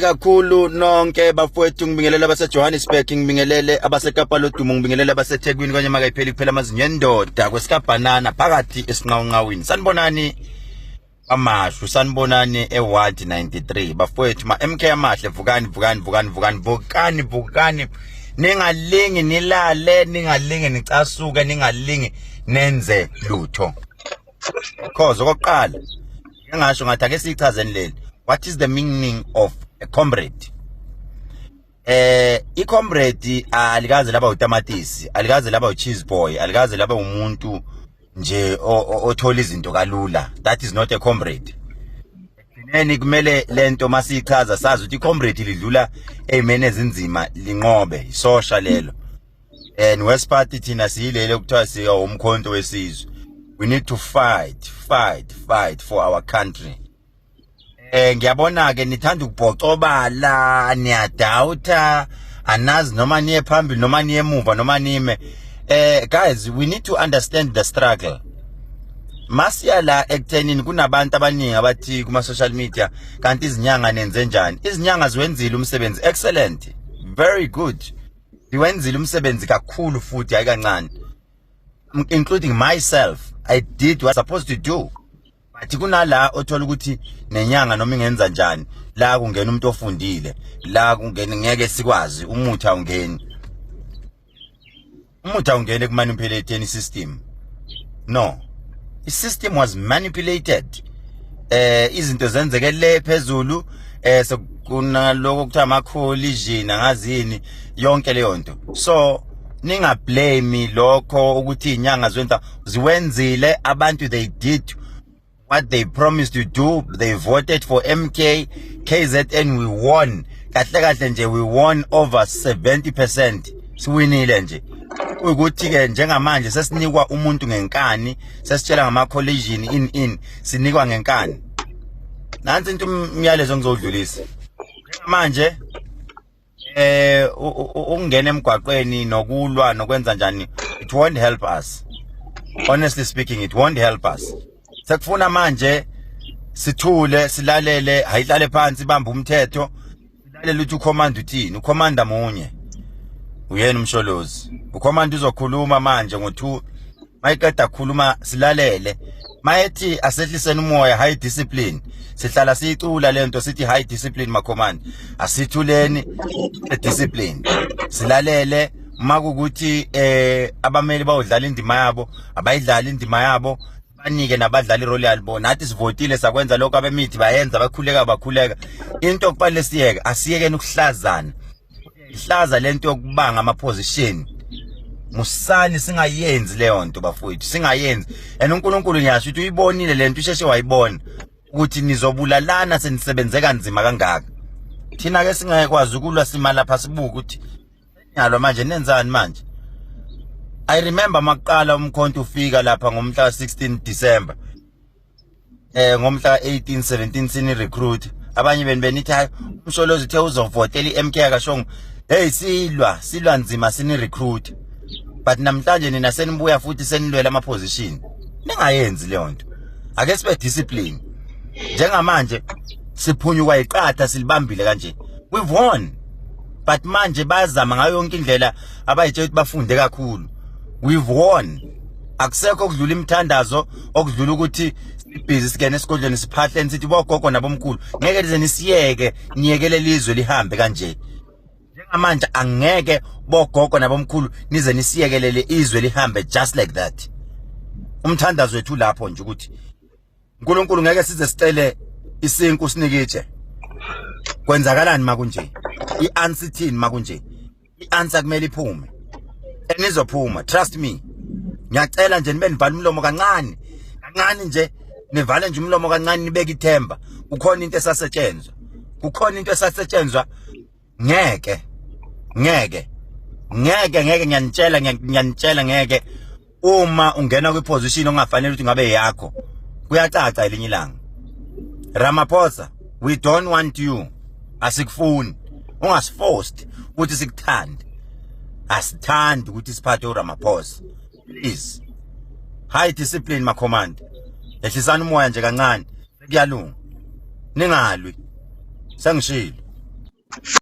kakhulu nonke bafowethu ngibingelele abasejohannesburg ngibingelele abasekapa lodumo ngibingelele abasethekwini kwanye makayipheli kuphela amazinyo endoda kwesikabhanana phakathi esinqawunqawini sanibonani amashwi sanibonani eward 93 bafowethu ma-mk amahle vukani vukani vukani vukani vukani vukani ningalingi nilale ningalingi nicasuke ningalingi nenze lutho cause okokuqala ngingasho ngathi ake siyichazeni leli what is the meaning of a comrade eh icomrade alikaze laba utamatisi alikaze laba ucheese boy alikaze laba umuntu nje othola izinto kalula that is not a comrade ekugcineni kumele lento masiyichaza sazi ukuthi icomrade lidlula eymene ezinzima linqobe isosha lelo and west party thina siyilele kuthiwa siya umkhonto wesizwe we need to fight fight fight for our country eh ngiyabona ke nithanda ukubhocobala niyadawutha anazi noma niye phambili noma niye emuva noma nime eh guys we need to understand the struggle masiya la ekuthenini kunabantu abaningi abathi kuma social media kanti izinyanga nenze njani izinyanga ziwenzile umsebenzi excellent very good Ndiwenzile umsebenzi kakhulu futhi hayi kancane. Including myself, I did what I was supposed to do. But kunala othola ukuthi nenyanga noma ingenza njani, la kungena umuntu ofundile, la kungena ngeke sikwazi umuthi awungeni. Umuthi awungene ku manipulating system. No. I system was manipulated. Eh izinto zenzeke le phezulu eh sekunaloko kuthiwa ama collision angazini yonke leyo nto so ninga blame lokho ukuthi inyanga zwenza ziwenzile abantu they did what they promised to do they voted for MK KZN we won kahle kahle nje we won over 70% siwinile nje ukuthi ke njengamanje sesinikwa umuntu ngenkani sesitshela ngama collision in in sinikwa ngenkani nansi into umyalezo ngizodlulisa manje eh ukungena emgwaqweni nokulwa nokwenza njani it won't help us honestly speaking it won't help us sekufuna manje sithule silalele hayihlale phansi bamba umthetho Lalela uthi ukhomanda uthini? Ukhomanda munye. Uyena umsholozi. Ukhomanda uzokhuluma manje ngo2 mayiqeda khuluma silalele. Mayethi asehliseni umoya high discipline. Sihlala siyicula lento sithi high discipline makhomanda. Asithuleni discipline. Silalele makukuthi eh abameli bawudlala indima yabo, abayidlali indima yabo banike nabadlali irole yalibo nathi sivotile sakwenza lokho abemithi bayenza bakhuleka bakhuleka into okufanele siyeke asiyekeni ukuhlazana ihlaza lento yokubanga ama position musani singayenzi leyo nto bafowethu singayenzi and uNkulunkulu ngiyasho ukuthi uyibonile lento usheshe wayibona ukuthi nizobulalana senisebenze kanzima kangaka thina ke singeke kwazi ukulwa simalapha sibuka ukuthi Nyalo manje nenzani manje? I remember makuqala umkhonto ufika lapha ngomhla 16 December. Eh ngomhla 18 17 sini recruit. Abanye beni benithi hayi umsholozi uthe uzovotela iMK akashongo. Hey silwa silwa nzima sini recruit. But namhlanje nina senibuya futhi senilwela ama position. Ningayenzi leyo nto. Ake sibe discipline. Njengamanje siphunyuka iqatha silibambile kanje. We've won. but manje bayazama ngayo yonke indlela abayitshela ukuthi bafunde kakhulu we've won akusekho okudlula imithandazo okudlula ukuthi sibhizi singene esigodlweni siphahleni sithi bogogo nabomkhulu ngeke lize nisiyeke niyekele lizwe lihambe kanje njengamanje angeke bogogo nabomkhulu nize nisiyekelele izwe lihambe just like that umthandazo wethu lapho nje ukuthi uNkulunkulu ngeke size sicele isinku sinikitshe kwenzakalani makunje i-answer ithini makunje i-answer kumele iphume enizophuma trust me ngiyacela nje nibe nivala umlomo kancane kancane nje nivale nje umlomo kancane nibeke ithemba kukhona into esasetshenzwa kukhona into esasetshenzwa ngeke ngeke ngeke ngeke ngiyanitshela ngiyanitshela ngeke uma ungena kwi position ongafanele ukuthi ngabe yakho kuyacaca elinye ilanga Ramaphosa we don't want you asikufuni ungasiforced ukuthi sikuthande asithandi ukuthi siphathe uRamaphosa please high discipline ma command ehlisana umoya nje kancane kuyalunga ningalwi sengishilo